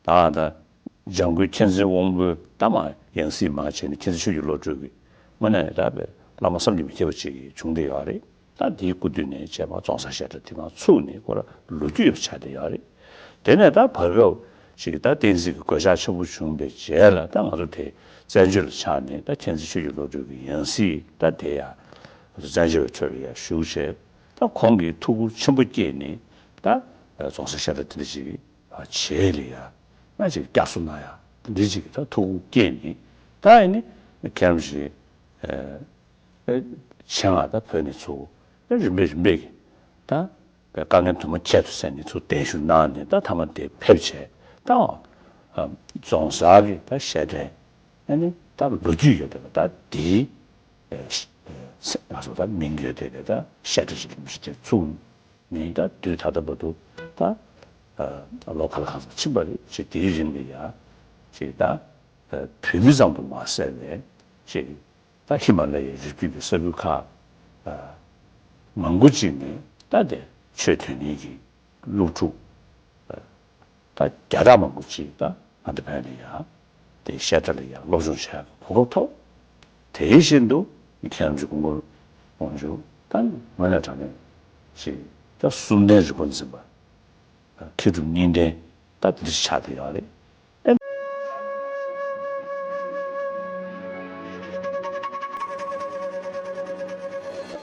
བདག་དང། ལྗང་གུའི་མཁྱེན་བརྩེའི་དབང་པོའི་རྟ་མ་ཡང་སྲིད་མ་བྱས་ནས་མཁྱེན་བརྩེ་ཆོས་ཀྱི་བློ་གྲོས་ཀྱིས་སྔོན་ན་ཡང་དག་པའི་བླ་མ་བསམ་གྱིས་མི་ཁྱབ་པ་ཅིག་བྱུང་སྟེ་ཡོད་རེད་ད་དེའི་སྐུ་དུས་ནས་བྱས་པ་བཙོང་ས་བཤད་གྲྭ་དེ་གང་ཚུགས་ནས་ཁོ་རང་ལོ་རྒྱུས་ཡོད་པ་ཆགས་བསྡད་ཡོད་རེད་དེ་ནས་ད་བར་སྐབས་ཤིག་ད་བསྟན་སྲིད་ཀྱི་གོད་ཆག་ཆེན་པོ་བྱུང་པའི་རྗེས་ལ་ད་ང་ཚོ་དེ་བཙན་བྱོལ་ལ་ཆགས་ནས་ད་མཁྱེན་བརྩེ་ཆོས་ཀྱི་བློ་གྲོས་ཀྱིས་ཡང་སྲིད་ད་དེ་ཡང་ང་ཚོ་བཙན་བྱོལ་བའི་ཁྲོད་ལ་ཡར་ཞུགས་བྱས། ད་ཁོང་གིས་ཐུགས་ཁུར་ཆེན་པོ་བསྐྱེད་ནས་ད། རྫོང་སར་ཤ་ཏག་དེ་འདྲ་ཅིག་བྱས་ལ་ཡ་ང་ཅིག་བསྐྱར་གསོ་གནང་ཡ་དེ་འདྲ་ཅིག་ད་ཐུགས་ཁུར་བསྐྱེད་ནས་ད་ཨེ་ནི་ཁྱེད་རྣམས་ཞིག་ཨེ། ཆེད་མངགས་ད་བོས་ནས་ཚུར་ཨེ་རིམ་པས་རིམ་པས་ཀྱིས་ད་པའི་དཀའ་ངལ་དུ་མ་ཁྱད་དུ་བསད་ནས་ཚུར་གདན་ཞུ་གནང་ནས་ད་ཐ་མ་དེ་ཕེབས་བྱས་ད་འོང། རྫོང་སར་གྱི་ད་ཤ་ཏག་ཨེ་ནི་ད་ལོ་རྒྱུས་ཡོད་པས་ད་དེའི། ང་སོ་ད་མིང་ཡོད་དེ་ད་ཤ་ཁྲི་ཞིག་རིན་པོ་ཆེ་དེ་བཙུགས་ནས་ད་དུས་ད་ལྟ་བ་དུ་ད་ལོ་ག་ལ་གང་ཟག་ཕྱིན་པ་རེད་ཅེས་དེའི་རིང་ལ་ཡང་ཅེས་ད་བོད་མི་ཙམ་དུ་མ་ཟད་ནས་ཅེས་ད་ཧི་མ་ལ་ཡའི་རི་རྒྱུད་ཀྱི་ས་ཁུལ་ཁག་མང་པོ་ཅིག་ནས་ད་དེ་ཆོས་དོན་གཉིས་ཀྱི་སློབ་ཕྲུག་ད་རྒྱ་གྲ་མང་པོ་གཅིག་ད་ང་འདི་བོད་ནས་ཡག་དེ་བཤད་གྲ་ལ་ཡག་སློབ་སྦྱོང་བྱས་གོ་སྐབས་ཐོབ་དེ་བཞིན་དུ་མཁས་རམས་ཀྱི་སྐུ་མགོར་དབང་བཞུགས་ད་ངོས་ནས་དྲང་གནས་ཞིག་ད་གསུམ་ལྡན་རི་བོ་འཛིན་པ་མཁས་གྲུབ་གཉིས་ལྡན་ད་འདིར་ཆགས་དེ་ཡག་རེད།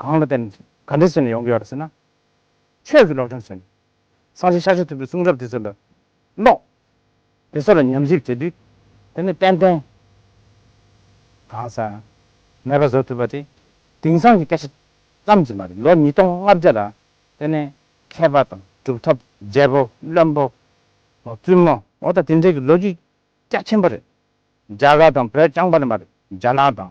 གང་ལ་བརྟེན་ནས་ག་འདྲའི་ཚུལ་ནས་ཡོང་གི་ཡོད་རེད་ཟེར་ན། ཆོས་ཀྱི་སློབ་སྦྱོང་བྱས་ནས་སང་ཞིག་ཤ་ཤེ་ཐུབ་པའི་གསུང་རབ་དེ་ཚོ་ལ་ཀློག། དེ་ཚོ་ལ་ཉམས་ཞིབ་བྱེད་དུས་དེ་ནི་ཏན་ཏན་གང་ཟག་མེད་པ་བཟོ་ཐུབ་པ་དེ་དེང་སང་གི་སྐད་ཆ་ཙམ་གྱིས་མ་རེད་ལོ་ཉིས་སྟོང་ལྔ་བརྒྱ་ལ་བརྟེན་ནས་མཁས་པ་དང་གྲུབ་ཐོབ་རྒྱལ་པོ་བློན་པོ་བཙུན་མོ། མོ་དང་དེ་འབྲེལ་གྱི་ལོ་རྒྱུས་རྒྱ་ཆེན་པོ་རེད་རྒྱ་གར་དང་བོད་རྐྱང་པ་ལ་མ་རེད་རྒྱ་ནག་དང